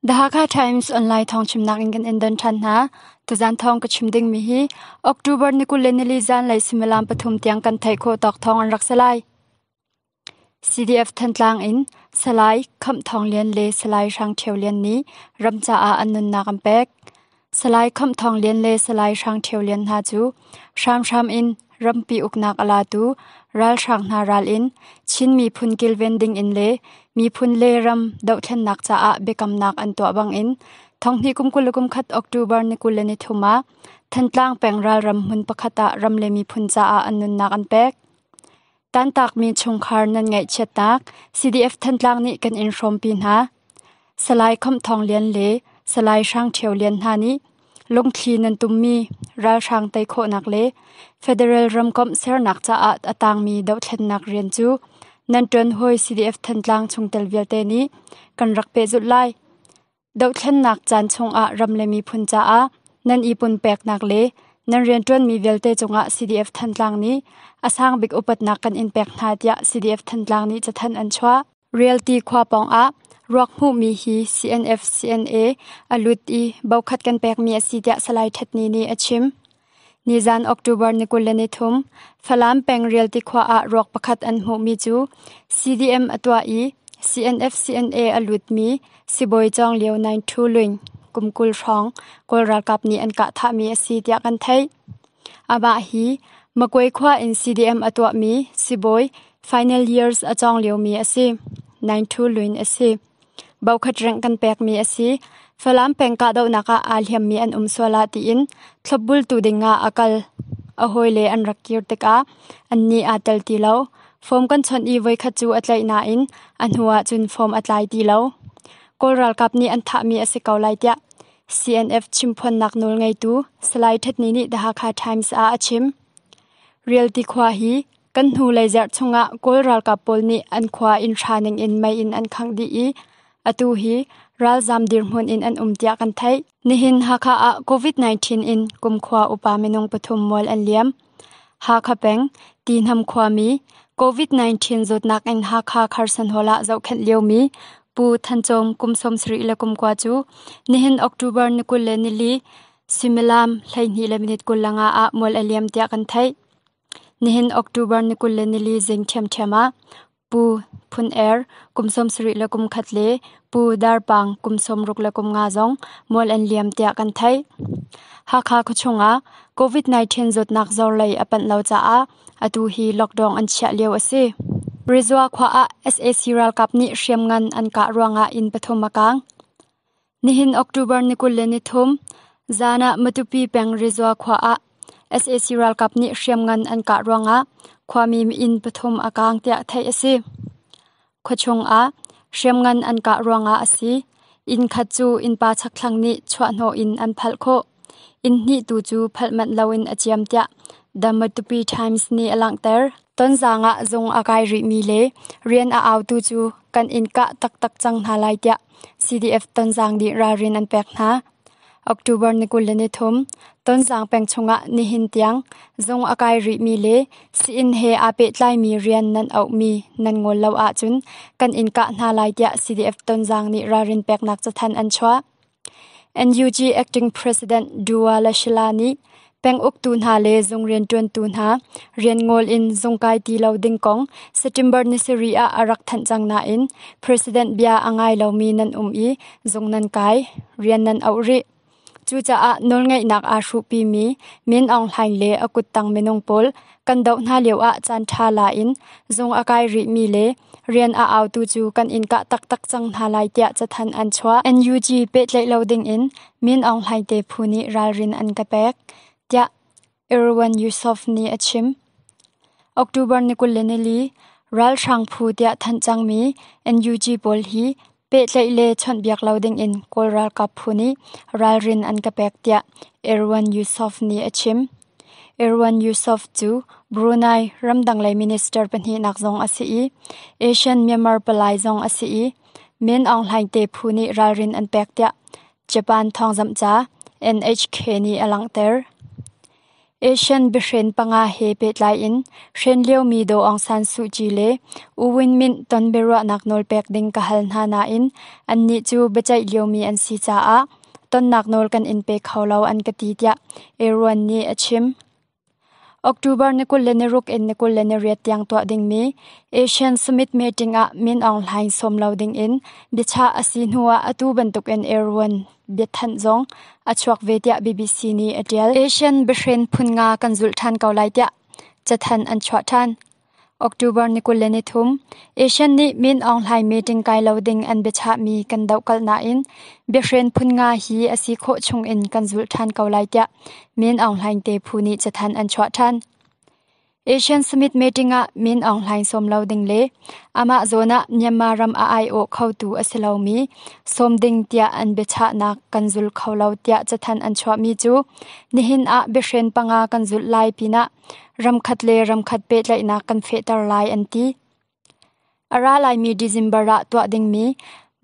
The Hakha Times online thawngchimnak in kan endon than hna. Tuzan thawng ka chim ding mi hi October ni kul le nili zan lei similam pathum tiang kan thai kho tawk thawng an rak salai. CDF Thantlang in salai kham thong lian le salai hrang theu lian ni ramca ah an nunnak an pek. Salai Khamh Thawng Lian le Salai Hrang Ṭhio Lian hna cu hramhram in rampi uknak a latu ralhrang hna ral in Chin miphun kilven dingin le miphun le ram dohthlennak caah biakamnak an tuah bangin thonghnih kum kul le kum khat October ni kul le ni thum ah Thantlang peng ralram hmun pakhat ah ram le miphun caah an nunnak an pek. Tantakmi chungkhar nan ngaihchiatnak CDF Thantlang nih kan in hrawmpi hna. Salai Kham Thawng Lian le Salai Hrang Ṭhio Lian hna nih lungthli nan tummi ralhrang tei khawhnak le federal ramkomh sernak caah a tangmi dohthlennak rian cu nan ṭuan hawi CDF Thantlang chungtel vialte nih kan rak pehzulh lai. dohthlennak caan chungah ram le miphun caah nan i punpeknak le nan rianṭuanmi vialte cungah CDF Thantlang nih a sang bik upatnak kan in pek hna tiah CDF Thantlang nih cathan an chuah. Realty khua pawngah ruak hmuhmi hi CNF CNA a lut i bokhat kan pekmi a si tiah Salai Ṭhatni nih a chim. Nizan October ni kul le ni thum Falam peng Rialti khua ah ruak pakhat an hmuhmi cu CDM a tuah i CNF-CNA a lutmi sibawi Cawng Lio Naing Hthu Luing kum kul hrawng Kawl ralkap nih an kah thahmi a si tiah kan theih. Amah hi Makwe khua in CDM a tuahmi sibawi final years a cawng liomi a si. Naing Hthu Luing a si. Bokhat ring kan pekmi a si. Falam peng kahdohnak ah aa hliammi an um sual ah tiin thlopbultu ding ah a kal. A hawile an rak kir tikah annih aa tel ti lo. Form kan chawnh i voikhat cu a tlaih nain a hnu ah cun form a tlai ti lo. Kawl ralkap nih an thahmi a si ko lai tiah CNF chimphuannak nawl ngeitu Salai Hthetni nih The Hakha Times ah a chim. Rialti khua hi Kan hnulei zarh chungah Kawl ralkap pawl nih an khua inn hra ningin mei in an khangh dih i atu hi ralzam dirhmun in an um tiah kan theih. Nihin Hakha ah COVID-19 in kumkhua upa minung pathum mual an liam. Hakha peng, Tihnam khuami, COVID-19 zawtnak in Hakha Kherson Hall ah zohkhenh liomi Pu Than Cawm kum sawmsarih le kumkua cu nihin October ni kul le nili suimilam hleihnih le minit kul langa ah mual a liam tiah kan theih. Nihin October ni kul le nili zing ṭhiamṭhiam ah Pu Phun Er kum sawmsarih le kum khat le Pu Dar Pang kum sawmruk le kum nga zong mual an liam tiah kan theih. Hakha khuachung ah COVID-19 zawtnak zor lei a panh lo caah atu hi lockdown an chiah lio a si. Rezua khua ah sac ralkap nih hriamngan an kah ruangah inn pathum a kaang. Nihin October ni kul le nithum zan ah Matupi peng Rezua khua ah sac ralkap nih hriamngan an kah ruangah khuami inn pathum a kaang tiah theih a si. Khuachung ah hriamngan an kah ruangah a si. Inn khat cu innpa chakthlang nih chuahhnawh in an phalh khawh. Inn hnihtu cu phalh manh loin a ciam tiah The Matupi Times nih a langhter. Tonzang ah zung a kai rihmi le rian a autu cu kan inn kah taktak cang hna lai tiah CDF Tonzang nih ralrin an pek hna. October ni kul le ni thum Tonzang peng chungah nihin tiang zung a kai rihmi le si-inn he aa pehtlaimi rian nan auhmi nan ngol lo ahcun kan inn kah hna lai tiah CDF Tonzang nih ralrin peknak cathanh an chuah. NUG Acting President Dua Le Shila nih penguktu hna le zung rianṭuantu hna rian ngol in zung kai ti lo ding kong September ni sarih ah a rak thanh cang nain President bia a ngai lomi nan um i zung nan kai, rian nan auh rih. Cucaah nawlngeihnak aa hruhpimi Min Aung Hlaing le a kuttang minung pawl kan doh hna lioah caanṭha la in zung a kai rihmi le rian a autu cu kan in kah taktak cang hna lai tiah cathanh an chuah. NUG pehtlaih lo dingin Min Aung Hlaing te phu nih ralrin an ka pek, tiah Irwan Yusof nih a chim. October ni kul le nili ralhrang phu tiah thanh cangmi NUG pawl hi Pehtlaih le chawnhbiak lo dingin Kawl ralkap phu nih ralrin an ka pek tiah Erwan Yusof nih a chim. Erwan Yusof cu Brunei ramdang minister pahnihnak zong a si i Asian-Myanmar palai zong a si i Min Aung Hlaing te phu nih ralrin an pek tiah Japan thawngzamhca NHK nih a langhter. Asian biahren panga he pehtlai in hren liomi Daw Aung San Suu Kyi le U Win Myint ton biaruahnak nawlpek ding ka hal hna nain annih cu biaceih liomi an si caah tonnak nawl kan in pe kho lo an ka ti tiah Aaron nih a chim. October ni kul le ni ruk in ni kul le ni riat tiang tuah dingmi Asian Summit meeting ah Min Aung Hlaing sawm lo ding in biachah a si hnu ah atu bantukin Aaron biathanh zong a chuak ve tiah BBC nih a ṭial. Asian biahrin phun nga kan zulh ṭhan ko lai tiah cathanh an chuah ṭhan. October ni kul le ni thum Asian nih Min Aung Hlaing meeting kai lo ding an biachahmi kan dohkalh nain biahrin phun nga hi a si khawh chung in kan zulh ṭhan ko lai tiah Min Aung Hlaing te phu nih cathanh an chuah ṭhan. Asian Summit meeting ah Min Aung Hlaing sawm lo ding le amah zawn ah Myanmar ram a aiawh khotu a si lomi sawm ding tiah an biachahnak kan zul kho lo tiah cathanh an chuahmi cu nihin ah biahren panga kan zulh lai pinah ramkhat le ramkhat pehtlaihnak kan fehter lai an ti. A ra laimi December ah tuah dingmi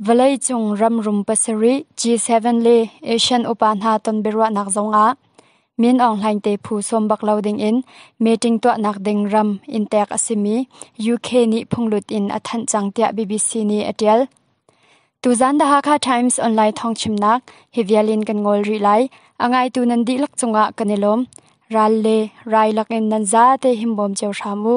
vawleicung ramrum pasarih G7 le ASEAN upa hna tonbiaruahnak zongah Min Aung Hlaing te phu sawm bak lo dingin meeting tuahnak ding ram in tek a simi UK nih phunglut in a thanh cang tiah BBC nih a ṭial. Tuzaan The Hakha Times online thawngchimnak hi vial in kan ngol rih lai. A ngaitu nan dihlak cungah kan i lawm. Ral le rai lakin nan zate himbawm cio hram u.